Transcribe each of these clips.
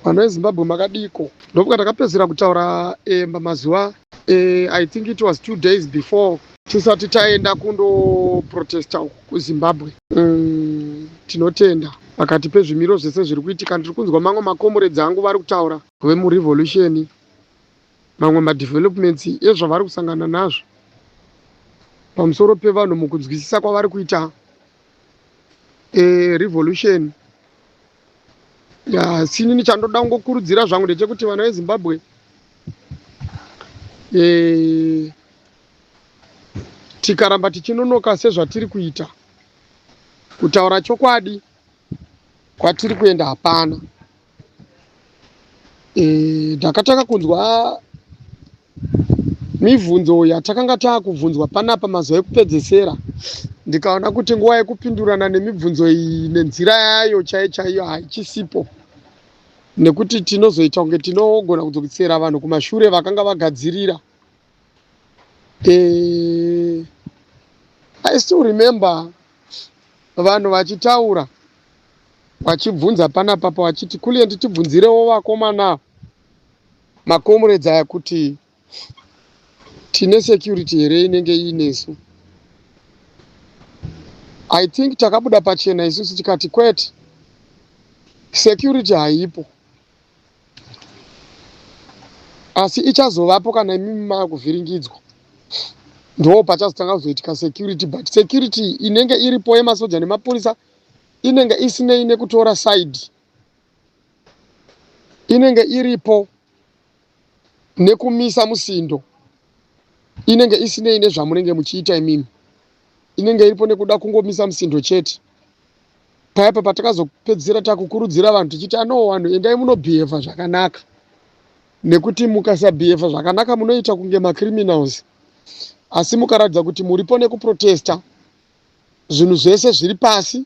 Vanhu veZimbabwe makadiko. Ndobuka takapedzera kutaura eh, mazuva eh, I think it was two days before tisati taenda kundoprotesta uku kuzimbabwe mm, tinotenda pakati pezvimiro zvese zviri kuitika ndiri kunzwa mamwe makomuredzi angu vari kutaura vemurevolution mamwe madevelopments ezvavari kusangana nazvo pamusoro pevanhu mukunzwisisa kwavari kuita e, revolution asi inini chandoda kungokurudzira zvangu ndechekuti vana vezimbabwe e, tikaramba tichinonoka sezvatiri kuita kutaura chokwadi kwatiri kuenda hapana e, ndakatanga e, kunzwa Mibvunzo yatakanga taakubvunzwa panapa mazuva ekupedzesera ndikaona kuti nguva yekupindurana nemibvunzo iyi nenzira yayo chaiyo chaiyo haichisipo nekuti tinozoita kunge tinogona kudzokisera vanhu kumashure vakanga vagadzirira e, i still remember vanhu vachitaura vachibvunza panapa pavachiti kuliendi tibvunzirewo vakomana makomrades aya kuti tine security here inenge iinesu i think takabuda pachena isusu tikati kwete security haipo asi ichazovapo kana imimi makuvhiringidzwa ndoo pachazotanga kuzoitika security but security inenge iripo yemasoja nemapurisa inenge isinei nekutora side inenge iripo nekumisa musindo inenge isinei nezvamunenge muchiita imimi inenge iripo nekuda kungomisa musindo chete payapa patakazopedzisira takukurudzira vanhu tichiti anoo vanhu endai munobhihevha zvakanaka nekuti mukasabhihevha zvakanaka munoita kunge macriminals asi mukaratidza kuti muripo nekuprotesta zvinhu zvese zviri pasi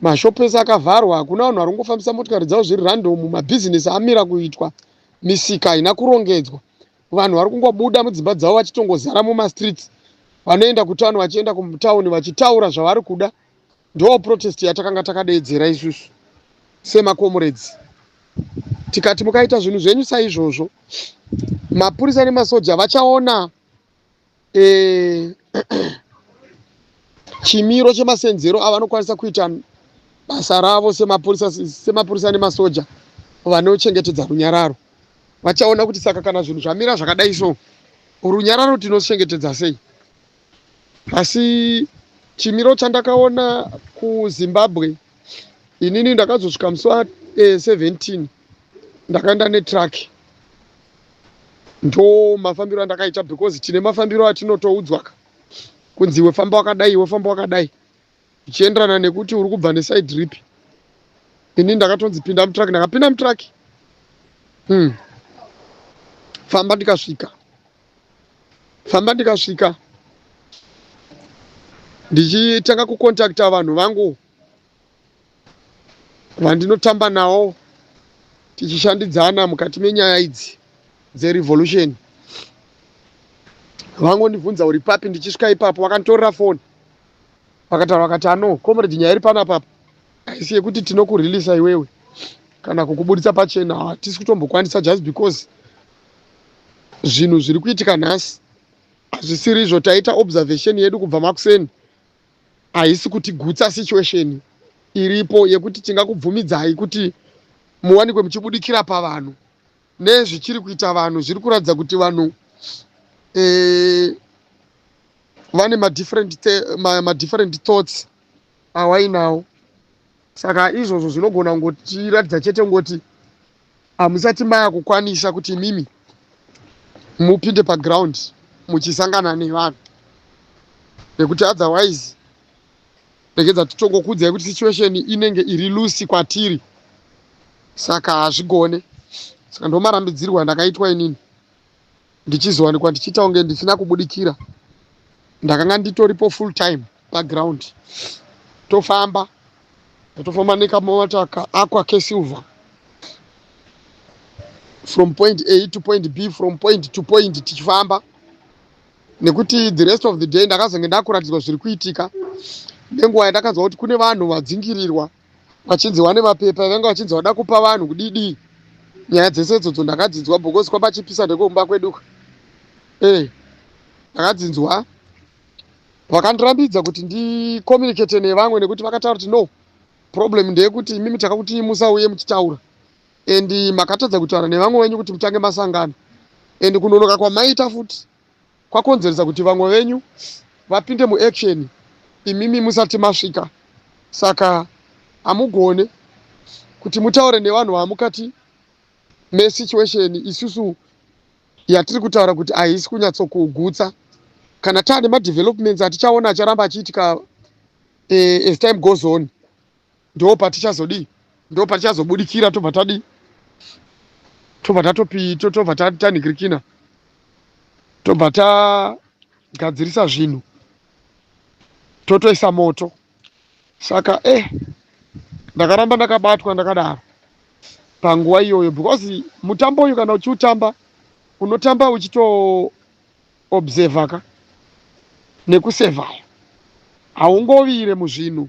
Mashop ese akavharwa, hakuna vanhu vari kungofambisa motikari dzavo zviri random, mabhizinesi amira kuitwa, misika haina kurongedzwa, vanhu vari kungobuda mudzimba dzavo vachitongozara mumastreets, vanoenda kutown vachienda kutown vachitaura zvavari kuda. Ndoo protest yatakanga takadeedzera isusu semakomuredzi tikati mukaita zvinhu zvenyu saizvozvo mapurisa nemasoja vachaona eh, chimiro chemasenzero avanokwanisa kuita basa ravo semapurisa semapurisa nemasoja vanochengetedza runyararo vachaona kuti saka kana zvinhu zvamira zvakadai so runyararo tinochengetedza sei asi chimiro chandakaona kuzimbabwe inini ndakazosvika musi wa eh, 17 ndakaenda netruck ndo mafambiro andakaita because tine mafambiro atinotoudzwaka kunzi iwe famba wakadai iwe famba wakadai zvichienderana nekuti uri kubva nesaidi ripi ini ndakatonzi pinda mutraki ndakapinda mutraki hmm. famba ndikasvika famba ndikasvika ndichitanga kukontakta vanhu vangu vandinotamba nawo tichishandidzana mukati menyaya idzi dzerevolution vangondibvunza uri papi ndichisvika ipapo vakanditorera foni vakataura vakati ano comrade nyaya iri pana papa haisi yekuti tinokurelisa iwewe kana kukuburitsa pachena hatisi kutombokwanisa just because zvinhu zviri kuitika nhasi hazvisiri izvo taita observation yedu kubva makuseni haisi kuti gutsa situation iripo yekuti tingakubvumidzai kuti muwanikwe muchibudikira pavanhu nezvichiri kuita vanhu zviri kuratidza kuti vanhu eh, vane madifferent madifferent thoughts awainawo Saka izvozvo zvinogona kungotiratidza chete kungoti hamusati maya kukwanisa kuti imimi mupinde paground muchisangana nevanhu nekuti otherwise regedza titongokuudzai kuti situation inenge iri lusi kwatiri saka hazvigone saka ndomarambidzirwa ndakaitwa inini ndichizowanikwa ndichiita kunge ndisina kubudikira ndakanga nditoripo full time paground tofamba tofamba nekamataka akwa kesilver from point a to point b from point to point tichifamba nekuti the rest of the day ndakazonge ndakuratidzwa zviri kuitika nenguva yandakanzwa kuti kune vanhu vadzingirirwa vachinzi wane mapepa vanga vachinzi vada kupa vanhu kudidii nyaya dzese idzodzo ndakadzinzwa because kwapachipisa nekumba kweduka e eh, ndakadzinzwa vakandirambidza kuti ndicommunicate nevamwe nekuti vakataura kuti no problem ndeyekuti imimi takakuti musauye muchitaura and makatadza kutaura nevamwe venyu kuti mutange masangano and kunonoka kwamaita futi kwakonzeresa kuti vamwe venyu vapinde muaction imimi musati masvika saka hamugone kuti mutaure nevanhu vamukati mesituation isusu yatiri kutaura kuti haisi kunyatsokugutsa kana taane madevelopments atichaona acharamba achiitika eh, as time goes on ndo patichazodii ndo patichazobudikira tobva tadii tobva tatopi tobva tanikirikina tobva tagadzirisa zvinhu totoisa moto saka eh ndakaramba ndakabatwa ndakadaro panguva iyoyo because mutambo uyu kana uchiutamba unotamba uchitoobserva ka nekusevhaya haungovire muzvinhu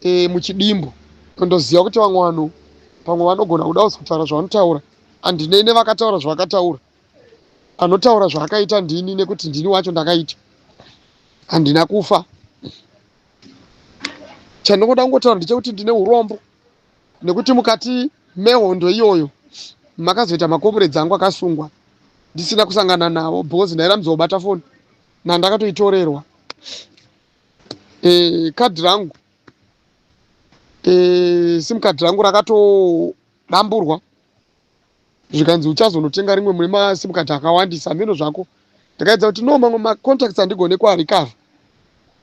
e, muchidimbu nondoziva kuti vamwe vanhu pamwe vanogona kuda usi kutaura zvavanotaura andinei nevakataura zvavakataura anotaura zvaakaita ndini nekuti ndini wacho ndakaita handina kufa chandingoda kungotaura ndechekuti ndine urombo nekuti mukati mehondo iyoyo makazoita makomuredzi angu akasungwa ndisina kusangana navo because ndairambidzwa kubata foni nandakatoitorerwa eh, kadhi rangu eh, sim kadhi rangu rakatodamburwa zvikanzi uchazonotenga rimwe mune masim kadhi akawandisa hameno zvako ndikaedza kuti no mamwe macontacts andigone kuarikavha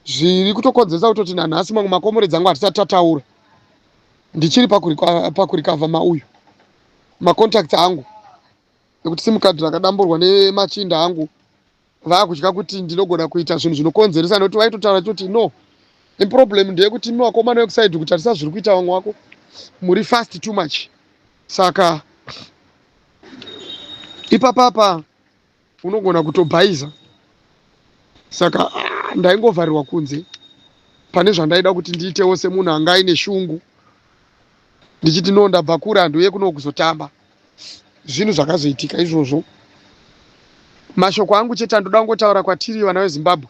zviri kutokonzeresa kutoti nanhasi mamwe makomore dzangu hatisati tataura ndichiri pakurikavha mauyu macontacts angu nekuti simukadhi rakadamburwa nemachinda angu vakutya kuti ndinogona kuita zvinhu zvinokonzeresa nokuti vaitotaura choti no problem ndeyekuti imi vakomana vekusaidi kutarisa zviri kuita vamwe wako muri fast too much saka ipapapa unogona kutobhaiza saka ah, ndaingovharirwa kunze pane zvandaida kuti ndiitewo semunhu anga aine shungu ndichiti no ndabva kure handu uye kuno kuzotamba zvinhu zvakazoitika izvozvo mashoko angu chete andoda kungotaura kwatiri vana vezimbabwe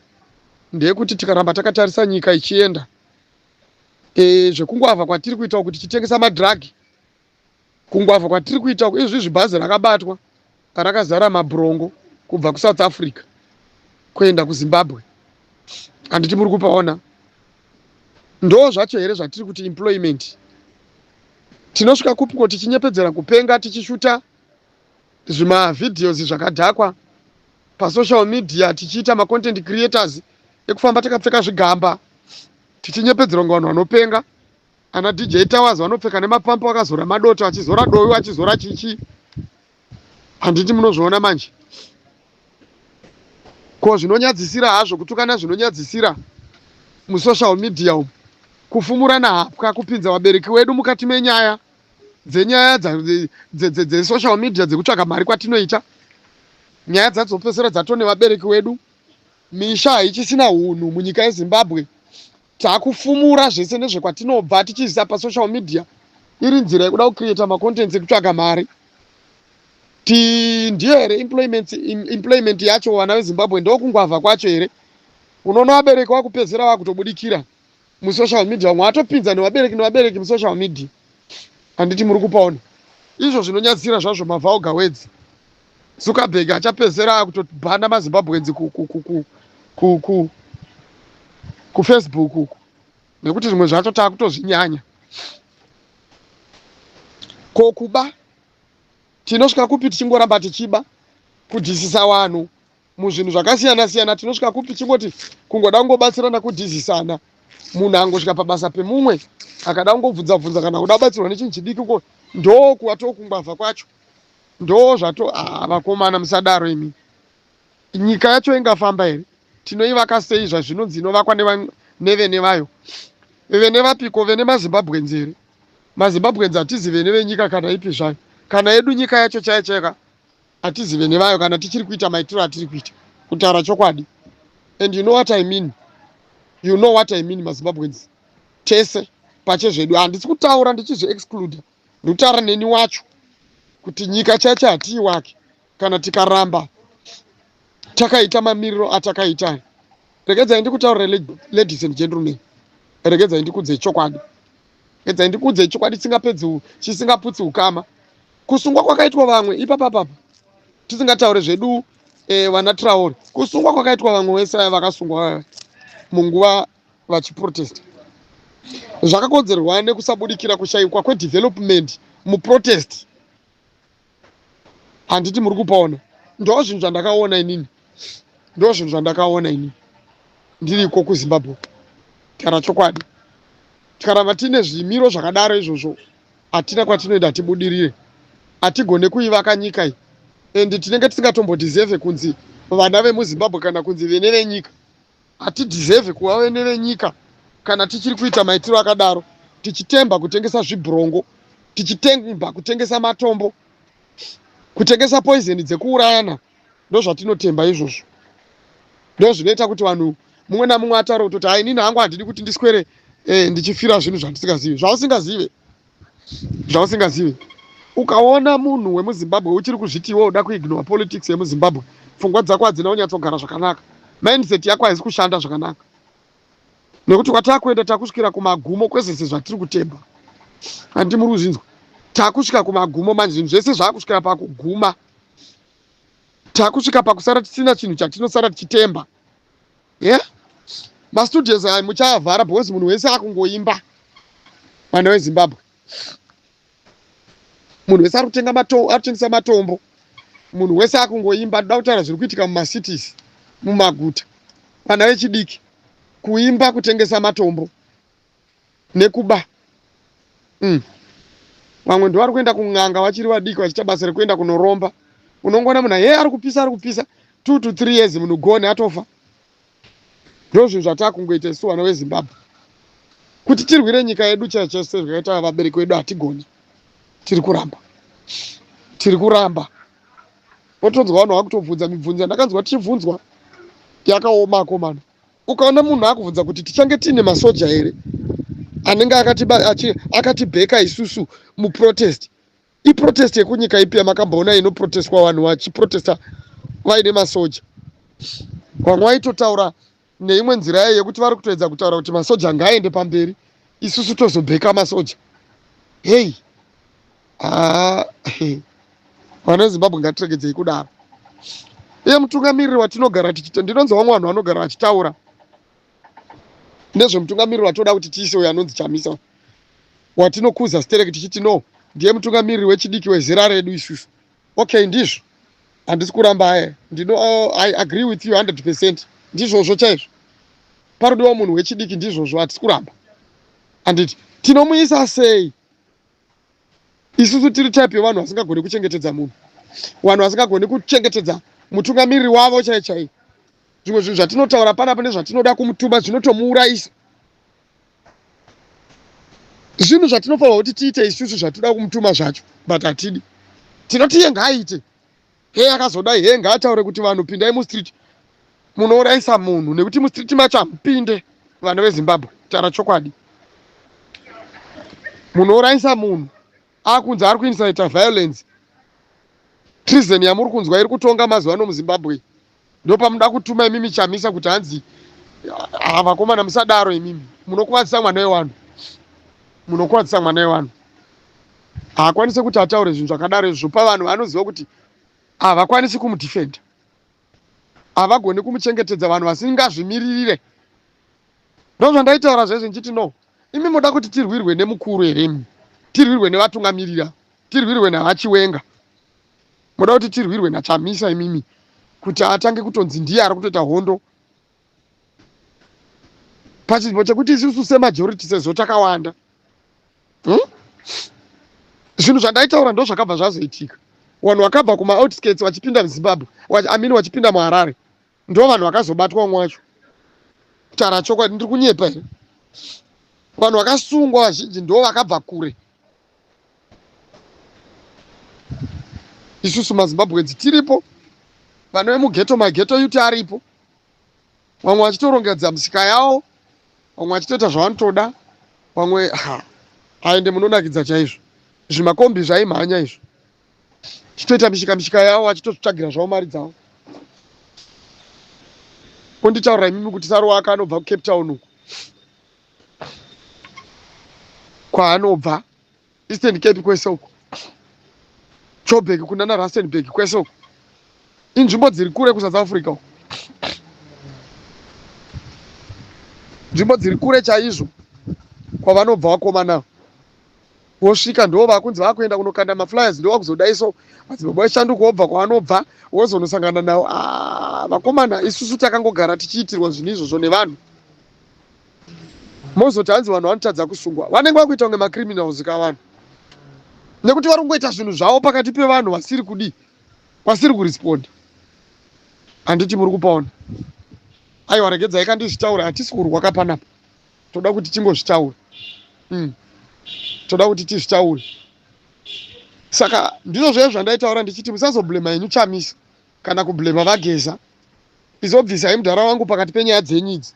ndeyekuti tikaramba takatarisa nyika ichienda e, zvekungoavha kwatiri kuita kuti titengesa madhiragi kungoavha kwatiri kuita izvi zvibhazi rakabatwa rakazara mabhurongo kubva kusouth africa kuenda kuzimbabwe handiti muri kupaona Ndoo zvacho here zvatiri kuti employment? Tinosvika kupiko tichinyepedzera kupenga tichishuta zvima videos zvakadhakwa pasocial media tichiita macontent creators ekufamba takapfeka zvigamba tichinyepedzerwa ngavanhu vanopenga ana DJ Towers vanopfeka nemapampo akazora madoto achizora doyo achizora chichi handiti munozviona manje ko zvinonyadzisira hazvo kutukana zvinonyadzisira musocial media umu kufumurana hapwa kupinza vabereki wedu mukati menyaya dzenyaya dzesocial media dzekutsvaga mari kwatinoita nyaya dzadzopesera dzatone vabereki wedu misha haichisina unhu munyika yezimbabwe Takufumura zvese nezvekwatinobva tichiisa pasocial media iri nzira yekuda kucreata macontents ekutsvaga mari ti ndiyo here employment, employment yacho vana vezimbabwe ndokungwavha kwacho here unoona vabereki vakupedzera vakutobudikira musocial media vamwe vatopinza nevabereki nevabereki musocial media handiti muri kupaona izvo zvinonyadzira zvazvo mavauga wedzi Zuckerberg achapedzera kutobhanda mazimbabweans ku, ku, ku, ku, ku, ku, kufacebook uku nekuti zvimwe zvacho taakutozvinyanya ko kuba tinosvika kupi tichingoramba tichiba kudhisisa vanhu muzvinhu zvakasiyana siyana tinosvika kupi chingoti kungoda kungobatsirana kudhisisana munhu angosvika pabasa pemumwe akada kungobvunza bvunza kana kuda kubatsirwa nechinhu chidiki ko ndokuva tokungwavha kwacho Ndoo zvato ah vakomana musadaro imi. Nyika yacho ingafamba here? Tinoivaka sei zvazvinonzi inovakwa neva nevene vayo. Vene vapiko vene maZimbabweans here? MaZimbabweans hatizi vene venyika kana ipi zvayo. Kana yedu nyika yacho chaiyo chaiyo ka hatizi vene vayo kana tichiri kuita maitiro atiri kuita kutaura chokwadi. And you know what I mean. You know what I mean maZimbabweans. Tese pache zvedu handisi kutaura ndichizvi excluder. Ndotara neni wacho kuti nyika chacha hatii wake kana tikaramba takaita mamiriro atakaita aya. Regedzai ndikutaurire ladies and gentlemen. Regedzai ndikudze chokwadi. Regedzai ndikudze chokwadi chisingapedzi chisingaputsi ukama. Kusungwa kwakaitwa vamwe ipapa papa tisingataure zvedu eh, vana Traore. Kusungwa kwakaitwa vamwe wese vakasungwa munguva vachiprotesta zvakakonzerwa nekusabudikira kushaikwa kwedevelopment muprotest handiti muri kupaona ndo zvinhu zvandakaona inini ndo zvinhu zvandakaona inini ndiriko kuzimbabwe kutaura chokwadi tikaramba tiine zvimiro zvakadaro izvozvo hatina kwatinoenda hatibudirire hatigone kuivaka nyika iyi and tinenge tisingatombodiseve kunzi vana vemuzimbabwe kana kunzi vene venyika Hatideserve kuva vene venyika kana tichiri kuita maitiro akadaro, tichitemba kutengesa zvibhurongo, tichitemba kutengesa matombo, kutengesa poizeni dzekuurayana. Ndozvatinotemba izvozvo, ndozvinoita kuti vanhu mumwe namumwe ataure kutoti hainini hangu handidi kuti ndiswere eh, ndichifira zvinhu zvandisingazivi zvausingazive zvausingazivi ukaona munhu wemuzimbabwe uchiri kuzviti iwe uda kuignore politics yemuzimbabwe pfungwa dzako hadzina kunyatsogara zvakanaka mindset yako haizi kushanda zvakanaka nekuti kwatakuenda takusvikira kumagumo kwezvese zvatiri kutemba handi muri kuzvinzwa takusvika kumagumo manje zvinhu zvese zvaakusvikira pakuguma takusvika pakusara tisina chinhu chatinosara tichitemba yeah mastudios ayo muchaavhara because munhu wese akungoimba mwana wezimbabwe munhu wese ari kutenga matombo ari kutengesa matombo munhu wese akungoimba toda kutaura zviri kuitika mumacities mumaguta vana vechidiki kuimba kutengesa matombo nekuba mm. vamwe ndivari kuenda kun'anga vachiri vadiki vachiita basa rekuenda kunoromba unongoona munhu hee ari kupisa ari kupisa two to three years munhu gone atofa ndo zvinhu zvataa kungoita isu vana vezimbabwe kuti tirwire nyika yedu chaiyo chaiyo sezvakaita vabereki vedu hatigoni tiri kuramba tiri kuramba otonzwa vanhu vakutobvunza mibvunzo yandakanzwa tichibvunzwa yakaoma akomana ukaona munhu akubvunza kuti tichange tiine masoja here anenge akatibheka isusu muprotest iprotest yekunyika ipi yamakamboona inoprotestwa vanhu vachiprotesta vaine masoja vamwe vaitotaura neimwe nzira yayo yekuti vari kutoedza kutaura kuti masoja ngaaende pamberi isusu tozobheka masoja hei Haa he, vana veZimbabwe ngatiregedzei kudaro. Iye mutungamiriri watinogara tichita, ndinonzwa vamwe vanhu vanogara vachitaura nezvemutungamiriri watoda kuti tiise uyo anonzi Chamisa uyu. watinokuza stereki tichiti no ndiye mutungamiriri wechidiki wezera redu isusu. Okay, ndizvo handisi kuramba aye ndino uh, I agree with you 100 percent ndizvozvo chaizvo parudiwa munhu wechidiki ndizvozvo hatisi kuramba handiti tinomuisa sei isusu tiri type yevanhu vasingagoni kuchengetedza munhu vanhu vasingagoni kuchengetedza mutungamiriri wavo chaiye chaiye zvimwe zvinhu zvatinotaura panapa nezvatinoda kumutuma zvinotomuurayisa zvinhu zvatinofanirwa kuti tiite isusu zvatinoda kumutuma zvacho but hatidi tinoti iye ngaaite Hee akazodai hee ngaataure kuti vanhu pindai mustreet munouraisa munhu nekuti mustreet macho hamupinde vana vezimbabwe taura chokwadi munouraisa munhu akunzi ari kuinsita violence treason yamuri kunzwa iri kutonga mazuva ano muzimbabwe ndopamuda kutuma imimi chamisa kuti hanzi ah, vakomana musadaro imimi munokuvadzisa mwana wevanhu munokuvadzisa mwana wevanhu haakwanise kuti ataure zvinhu zvakadaro izvi zvopa vanhu vanoziva kuti havakwanisi ah, kumudefenda havagoni kumuchengetedza vanhu vasingazvimiririre ndozvandaitaura zvezvi ndichiti no imi moda kuti tirwirwe nemukuru here imi tirwirwe nevatungamirira tirwirwe navachiwenga Moda kuti tirwirwe naChamisa imimi kuti atange kutonzi ndiye ari kutoita hondo pachinzvimbo chekuti isusu semajority sezvo takawanda hmm? zvinhu zvandaitaura ndo zvakabva zvazoitika vanhu vakabva kumaoutskirts vachipinda muzimbabwe amin vachipinda muharare ndo vanhu vakazobatwa umwe wacho kutaura chokwadi ndiri kunyepa here vanhu vakasungwa vazhinji ndo vakabva kure isusu mazimbabweans tiripo vanove mugeto mageto yuti aripo vamwe vachitorongedza misika yawo vamwe vachitoita zvavanotoda vamwe ha aende munonakidza chaizvo zvimakombi zvaimhanya izvo chitoita mishika mishika yavo vachitozvitsvagira zvavo mari dzavo konditaurira imimi kuti saruwa aka anobva kucape town uku kwaanobva Eastern Cape kwese uko, Joburg kunana Rustenburg kwese uko, inzvimbo dziri kure kuSouth Africa uko, nzvimbo dziri kure chaizvo kwavanobva vakomana vosvika ndo vakunzi vakuenda kunokanda maflyers ndo vakuzodai so madzibaba eshanduko wobva kwavanobva wozonosangana navo ah, vakomana isusu takangogara tichiitirwa zvinhu izvozvo nevanhu mozoti hanzi vanhu vanotadza kusungwa vanenge vakuita kunge macriminals ka vanhu nekuti vari kungoita zvinhu zvavo pakati pevanhu vasiri kudii vasiri kuresponda handiti muri kupaona aiwa regedzai ka ndizvitaure hatisi kurwa ka panapa toda kuti tingozvitaure mm. toda kuti tizvitaure saka ndizvo zvaye zvandaitaura ndichiti musazoblema henyu chamisa kana kublema vageza izobvisa hemudhara wangu pakati penyaya dzenyu idzi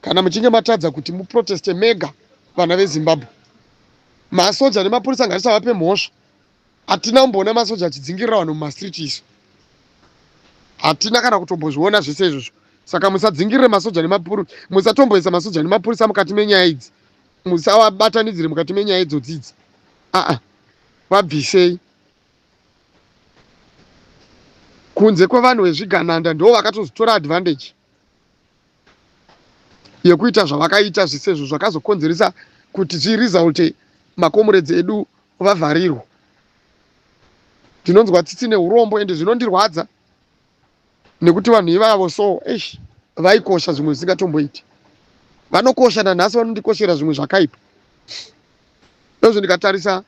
Kana muchinge matadza kuti muproteste mega vana vezimbabwe masoja nemapurisa ngatisavape mhosva hatina kumboona masoja achidzingirira vanhu mumastreet isu hatina kana kutombozviona zvese izvozvo saka musadzingirire masoja nemapurisa musatomboisa masoja nemapurisa mukati menyaya idzi musavabatanidzire mukati menyaya idzodzi idzi aa vabvisei kunze kwevanhu vezvigananda ndo vakatozotora advantage yekuita zvavakaita zvisezvo zvakazokonzeresa kuti zviresulte makomuredzi edu vavharirwa. Ndinonzwa tsitsi neurombo ende zvinondirwadza nekuti vanhu ivavo so eish vaikosha zvimwe zvisingatomboiti. Vanokosha nanhasi vanondikoshera zvimwe zvakaipa. Ndozvo ndikatarisa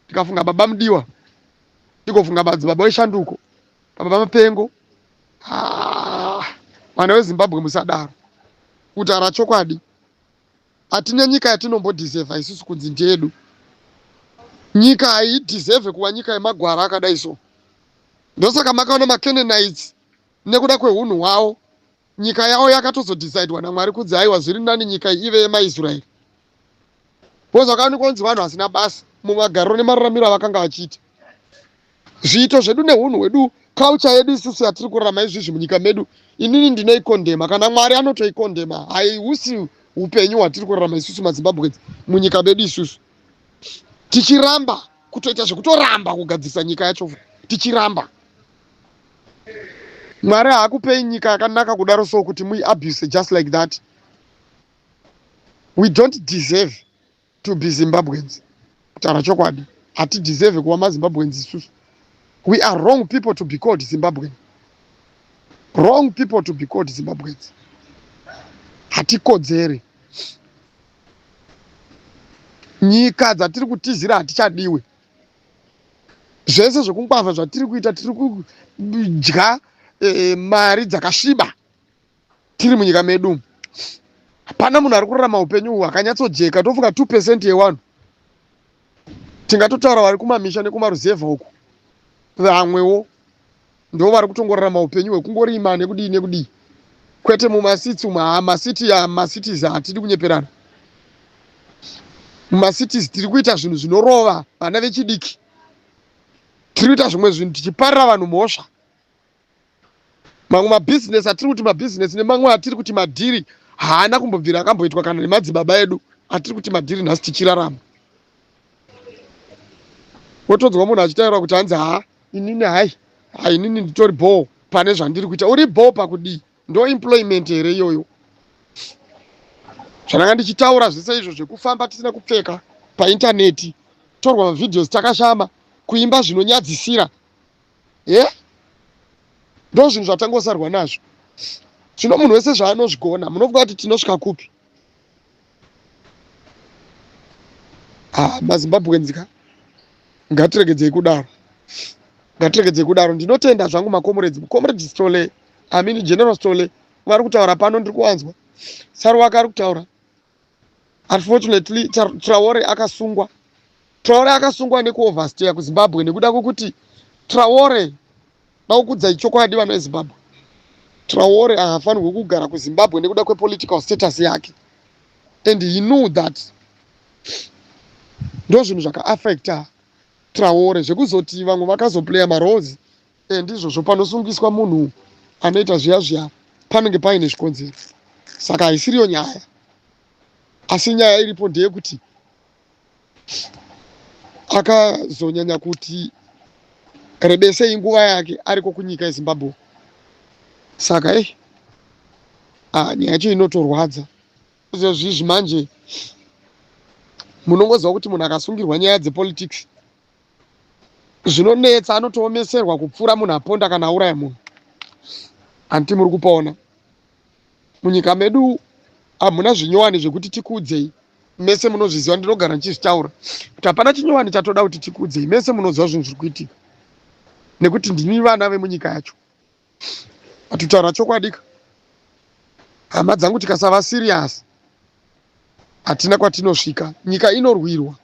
ndikafunga baba mudiwa ndigofunga madzibaba eshanduko. Baba Mapengo, ah, vana veZimbabwe musadaro. Kutaura chokwadi, hatina nyika yatinombodhisevha isusu kunzi ndedu. Nyika haidhisevhe kuva nyika yemagwara akadai so. Ndosaka makaona maCanaanites nekuda kwehunhu hwavo nyika yavo yakatozodhisaidwa naMwari kunzi haiwa zviri nani nyika ive yemaIsraeri. because akani kwanzi vanhu vasina basa mumagariro nemararamiro avakanga vachiita zviito zvedu neunhu hwedu culture yedu isusu yatiri kurarama izvizvi munyika medu inini ndinoikondema kana mwari anotoikondema haihusi upenyu hwatiri kurarama isusu mazimbabwe munyika medu isusu tichiramba kutoita zvekutoramba kugadzirisa nyika yacho tichiramba mwari haakupei nyika yakanaka kudaro so kuti muiabuse just like that we don't deserve to be zimbabweans kutaura chokwadi hatideserve kuva mazimbabweans isusu we are wrong people to be called zimbabwean wrong people to be called zimbabweans hatikodzeri nyika dzatiri kutizira hatichadiwe zvese zvekungwavha zvatiri kuita tiri kudya e, mari dzakasviba tiri munyika medu umu hapana munhu ari kurarama upenyu uhu akanyatsojeka tofunga two percent yewanhu tingatotaura vari kumamisha nekumaruzevha uku vamwewo ndo vari kutongorarama upenyu hwekungorima nekudii nekudii kwete mumasiti umu haa masiti ya masitis hatidi kunyeperana mumasitis tiri kuita zvinhu zvinorova vana vechidiki tiri kuita zvimwe zvinhu tichiparira vanhu mhosva Mamwe mabhizinesi atiri kuti mabhizinesi nemamwe atiri kuti madhiri haana kumbobvira akamboitwa kana nemadzibaba edu atiri kuti madhiri nhasi tichirarama. Wotonzwa munhu achitaura kuti hanzi haa inini hai hai inini nditori bhoo pane zvandiri kuita. Uri bhoo pakudii? Ndo employment here iyoyo? Zvandanga ndichitaura zvese izvo zvekufamba tisina kupfeka paintaneti, torwa mavhidhiyozi takashama, kuimba zvinonyadzisira he ndo zvinhu zvatangosarwa nazvo zvino munhu wese zvaanozvigona munofunga kuti tinosvika kupi ah, mazimbabweans ka ngatiregedzei kudaro ngatiregedzei kudaro ndinotenda zvangu makomuredzi mukomuredzi stole amini general stole vari kutaura pano ndiri kuwanzwa saruwaka ari kutaura Unfortunately, Traore akasungwa. Traore akasungwa nekuoversteya kuZimbabwe nekuda kwekuti Traore naukudza ichokwadi vana veZimbabwe. Traore haafanirwe kugara kuZimbabwe nekuda kwepolitical status yake. And he knew that ndozvinhu zvakaaffecta Traore zvekuzoti vamwe vakazoplaya maroles Eh, ndizvozvo panosungiswa munhu anoita zviya zviya panenge paine zvikonzero saka haisiriyo nyaya asi nyaya iripo ndeyekuti akazonyanya kuti rebesei nguva yake ariko kunyika yezimbabwe saka e ah, nyaya yacho inotorwadza zvezvizvi manje munongoziva kuti munhu akasungirwa nyaya dzepolitics zvinonetsa anotoomeserwa kupfuura munhu aponda kana auraya munhu hanti muri kupaona munyika medu hamuna zvinyowani zvekuti tikuudzei mese munozviziva ndinogara ndichizvitaura kuti hapana chinyowani chatoda kuti tikuudzei mese munoziva zvinhu zviri kuitika nekuti ndini vana vemunyika yacho Atutaura chokwadi ka. Hama dzangu tikasava serious hatina kwatinosvika. Nyika inorwirwa.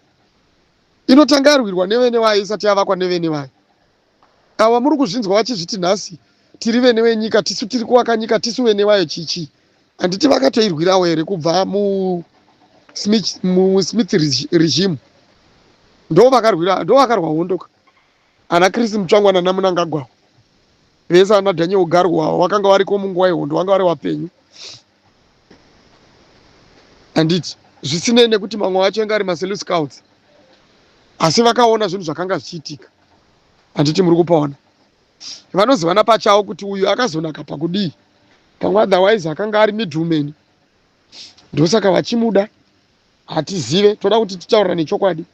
Inotanga yarwirwa nevene wayo isati yavakwa nevene wayo. Awa muri kuzvinzwa vachizviti nhasi tiri vene wenyika tisu tiri kuvaka nyika tisu vene wayo chichi. Handiti vakatoirwirawo here kubva mu Smith, mu Smith regime. Ndo vakarwira ndo vakarwa hondo ka. Ana Chris Mutsvangwa nana Munangagwa vese ana Daniel Garwa wakanga wariko munguva yehondo wanga wari wapenyu handiti zvisinei nekuti mamwe wacho anga ari maselu scouts asi vakaona zvinhu zvakanga zvichiitika handiti muri kupaona vanozivana pachavo kuti uyu akazonaka pakudii pamwe otherwise akanga ari middleman ndosaka vachimuda hatizive toda kuti titaurira nechokwadi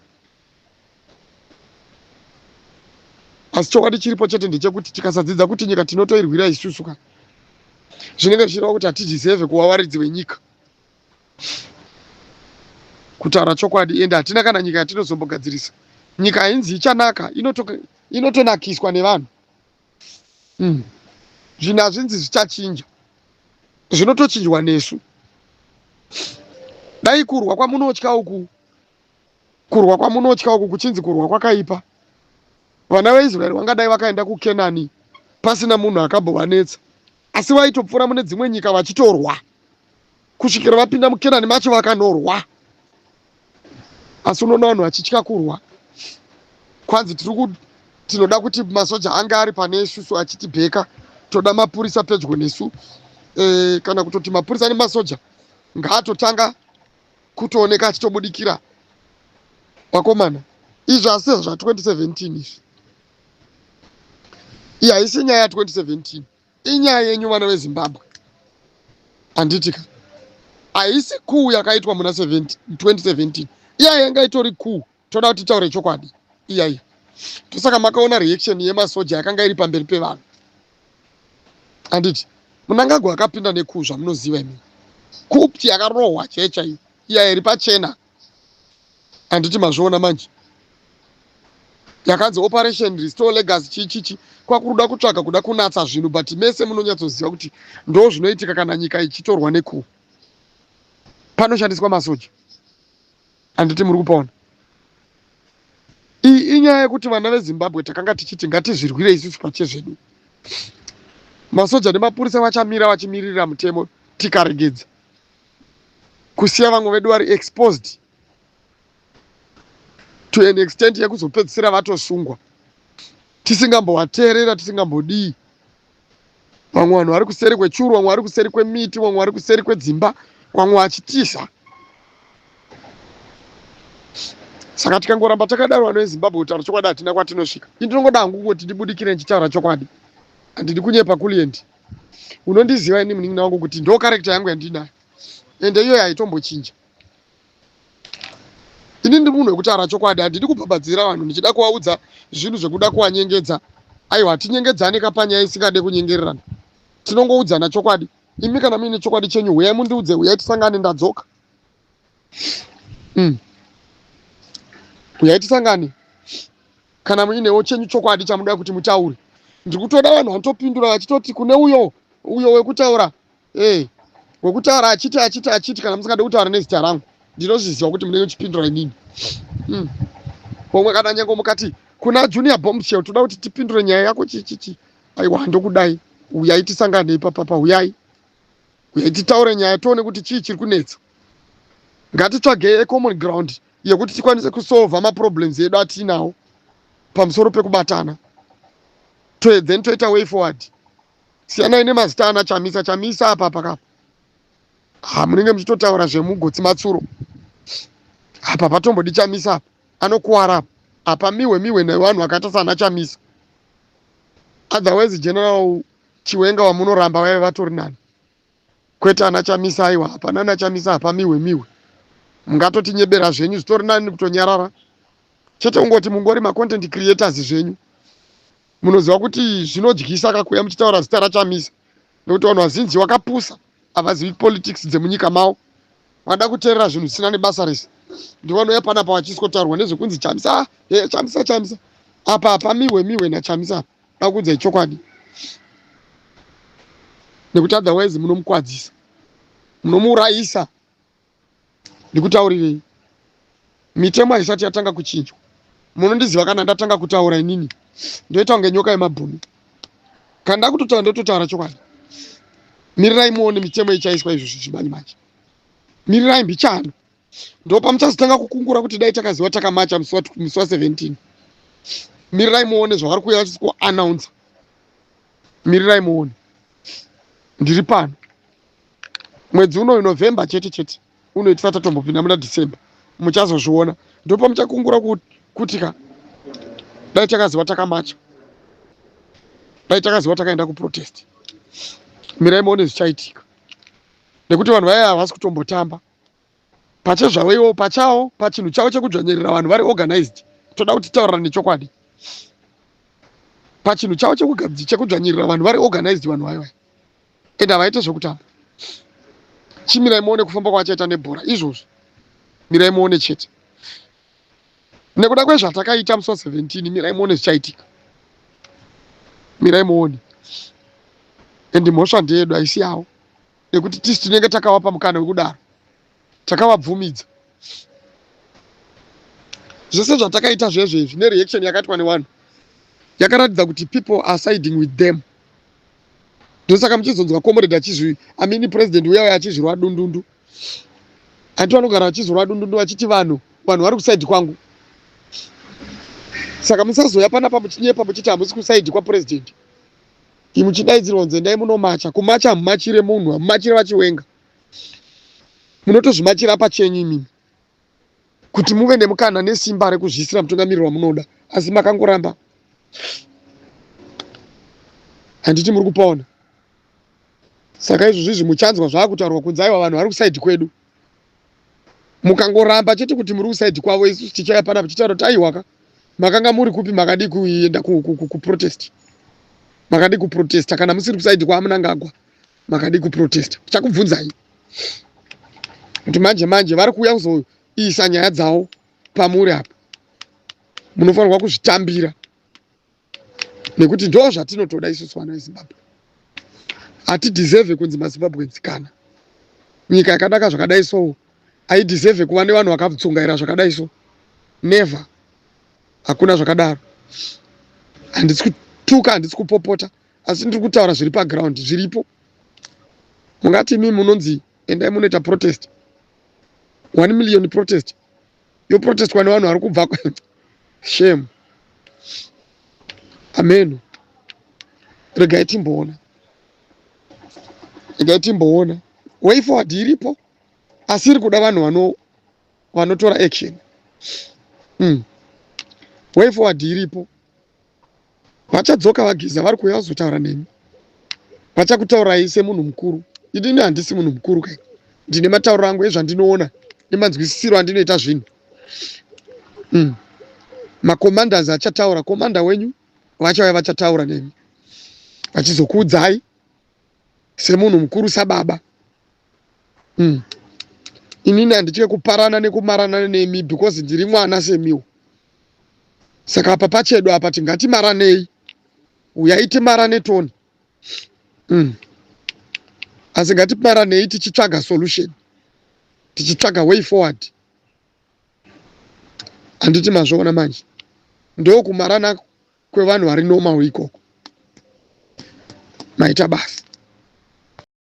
asi chokwadi chiripo chete ndechekuti tikasadzidza kuti nyika tinotoirwira isusu ka zvinenge zvichireva kuti hatidhisevhe kuva waridzi wenyika kutaura chokwadi ende hatina kana nyika yatinozombogadzirisa nyika hainzi ichanaka inotonakiswa ino nevanhu mm. zvinhu hazvinzi zvichachinja zvinotochinjwa nesu dai kurwa kwamunotya uku kurwa kwamunotya uku kuchinzi kurwa kwakaipa vana veisraeri vangadai vakaenda kukenani pasina munhu akambovanetsa asi vaitopfuura mune dzimwe nyika vachitorwa kusvikira vapinda mukenani macho vakanorwa asi unoona vanhu vachitya kurwa kwanzi tiri tinoda kuti masoja ange ari pane isusu achitibheka toda mapurisa pedyo nesu e, kana kutoti mapurisa nemasoja ngaatotanga kutooneka achitobudikira vakomana izvi asi zva 2017 izvi iyi haisi nyaya ya 2017 inyaya yenyu vana vezimbabwe handitika haisi kuu yakaitwa muna 2017 iya yanga itori kuu toda kuti titaure chokwadi iyaiyo tosaka makaona reaction yemasoja yakanga iri pamberi pevanhu handiti munangagwa akapinda nekuu zvamunoziva imi kupti yakarohwa chaiyo chaiyo iya iri pachena handiti mazviona manje yakanzi operation restore legacy chichichi kwakuruda kutsvaga kuda kunatsa zvinhu but mese munonyatsoziva kuti ndo zvinoitika kana nyika ichitorwa nekuu panoshandiswa masoja Handiti muri kupaona? Iyi inyaya yekuti vana veZimbabwe takanga tichiti ngatizvirwire isusu pachezvedu. Masoja nemapurisa vachamira vachimiririra mutemo tikaregedza kusiya vamwe vedu vari exposed to an extent yekuzopedzisira vatosungwa tisingambovateerera tisingambodii vamwe vanhu vari kuseri kwechuru vamwe vari kuseri kwemiti vamwe vari kuseri kwedzimba vamwe vachitiza saka tikangoramba takadaro vano vezimbabwe kutaura chokwadi hatina kwatinosvika i ndinongoda hangu kungoti ndibudikire ndichitaura chokwadi handidi kunyepa kuliendi unondiziva ini munin'ina wangu kuti ndo karekta yangu yandinayo ende iyoyo haitombochinja ini ndiri munhu wekutaura chokwadi handidi kubhabhadzira vanhu ndichida kuvaudza zvinhu zvekuda kuvanyengedza aiwa hatinyengedzane kapanyaya isingade kunyengererana tinongoudzana chokwadi imi kana muine chokwadi chenyu huyai mundiudze huyai tisangane ndadzoka mm. huyai tisangane kana muinewo chenyu chokwadi chamuda kuti mutaure ndiri kutoda vanhu vanotopindura vachitoti kune uyo uyo wekutaura Hey, wekutaura achiti achiti achiti kana musingade kutaura nezita rangu ndinozviziva kuti munenge muchipindura inini hmm. pomwe kana nyange mukati kuna junior bombshell toda kuti tipindure nyaya yako chichichi aiwa handokudai uyai tisanganei papapa uyai uyai titaure nyaya tione kuti chii chiri kunetsa ngatitsvagei ecommon ground yekuti tikwanise kusolva maproblems edu atiinawo pamusoro pekubatana then toita way forward siyanai nemazita ana chamisa chamisa apa paka ha munenge muchitotaura zvemugotsi matsuro apa patombodi chamisa apa anokuwara apa apa mihwe mihwe nevanhu vakaita sana chamisa otherwise general chiwenga wamunoramba vaive vatori nani kwete ana chamisa aiwa hapana ana chamisa hapa mihwe mihwe mungatotinyebera zvenyu zvitori nani kutonyarara chete kungoti mungori macontent creators zvenyu Munoziva kuti zvinodyisa ka kuuya muchitaura zita raChamisa nekuti vanhu vazinji wakapusa havazivi politics dzemunyika mavo vada kuteerera zvinhu zvisina nebasa rese ndivanouya panapa vachiskotaurwa nezvekunzi chamisa ah, eh, chamisa chamisa apa hapa miwe miwe nachamisa apa dakuudzai chokwadi nekuti otherwise munomukwadzisa munomuurayisa ndikutaurirei mitemo haisati yatanga kuchinjwa munondiziva kana ndatanga kutaura inini ndoita kunge nyoka yemabhunu kana ndakutotaura ndototaura chokwadi mirirai muone mitemo ichaiswa izvo zvichimanje manje mirirai mbichano ndopa muchazotanga kukungura kuti dai takaziva takamacha musi wa 17 mirirai muone zvavari kuuya vachisi kuannounsa mirirai muone ndiri pano mwedzi unoyu november chete chete uno itisati tatombopinda muna december muchazozviona ndopa muchakungura kuti ka dai takaziva takamacha dai takaziva takaenda kuprotest mirai muone zvichaitika nekuti vanhu vaya havasi kutombotamba pachezvavo ivo pachawo pachinhu chavo chekudzvanyirira vanhu vari organized toda kuti taurirane chokwadi pachinhu chavo chekudzvanyirira vanhu vari organized vanhu vaiva and havaite zvekutamba chimirai muone kufamba kwavachaita nebhora izvozvi mirai muone chete nekuda kwezvatakaita musi wa 17 mirai muone zvichaitika mirai muone and mhosva ndeyedu haisi yavo nekuti tisu tinenge takavapa mukana wekudaro takavabvumidza zvese zvatakaita zvezvo izvi nereaction yakaitwa nevanhu yakaratidza kuti people are siding with them ndosaka muchizonzwa comrade achizvi amini president uya uya achizvirwa dundundu hanti vanogara vachizvirwa dundundu vachiti vanhu vanhu vari kusaidi kwangu saka musazoya panapa muchinyepa muchiti hamusi kusaidi kwapurezidendi Imi muchidaidzirwa kunzi endai munomacha. Kumacha hamumachire munhu, hamumachire vachiwenga. Munotozvimachira pachenyu imimi kuti muve nemukana nesimba rekuzviisira mutungamiriri wamunoda, asi makangoramba. Handiti muri kupaona? Saka izvozvizvi muchanzwa zvaakutaurwa kunzi aiwa vanhu vari kusaidhi kwedu. mukangoramba chete kuti muri kusaidi kwavo isu tichaya pana tichitaura kuti aiwaka makanga muri kupi makadii kuenda kuprotest makadii kuprotesta kana musiri kusaidi kwamunangagwa makadii kuprotesta chakubvunzai kuti manje manje vari kuuya kuzoisa nyaya dzavo pamuri apo munofanirwa kuzvitambira nekuti ndoo zvatinotoda isusu vana vezimbabwe hatideserve kunzi mazimbabwenzi kana nyika yakanaka zvakadai so aideserve kuva nevanhu vakatsungaira zvakadai so never hakuna zvakadaro handisi kutuka handisi kupopota asi ndiri kutaura zviri paground zviripo mungati imii munonzi endai munoita protest one million protest yoprotestwa nevanhu vari kubva shame ameno regai timboona regai timboona way forward iripo asi iri kuda vanhu vano vanotora action mm. way forward iripo Vachadzoka vageza vari kuuya vazotaura nemi. Vachakutaurai semunhu mukuru. Inini handisi munhu mukuru kai. Ndine matauriro angu ezvandinoona nemanzwisisiro andinoita zvinhu. Mm. Macommanders achataura, commander wenyu vachauya vachataura nemi. Vachizokuudzai semunhu mukuru sababa. mm. inini handitye kuparana nekumarana nemi because ndiri mwana semiwo saka apa pachedu apa tingatimaranei uyai timarane toni mm. asi ngatimaranei tichitsvaga solution tichitsvaga way forward handiti mazvoona manje ndokumarana kwevanhu vari normal ikoko maita basa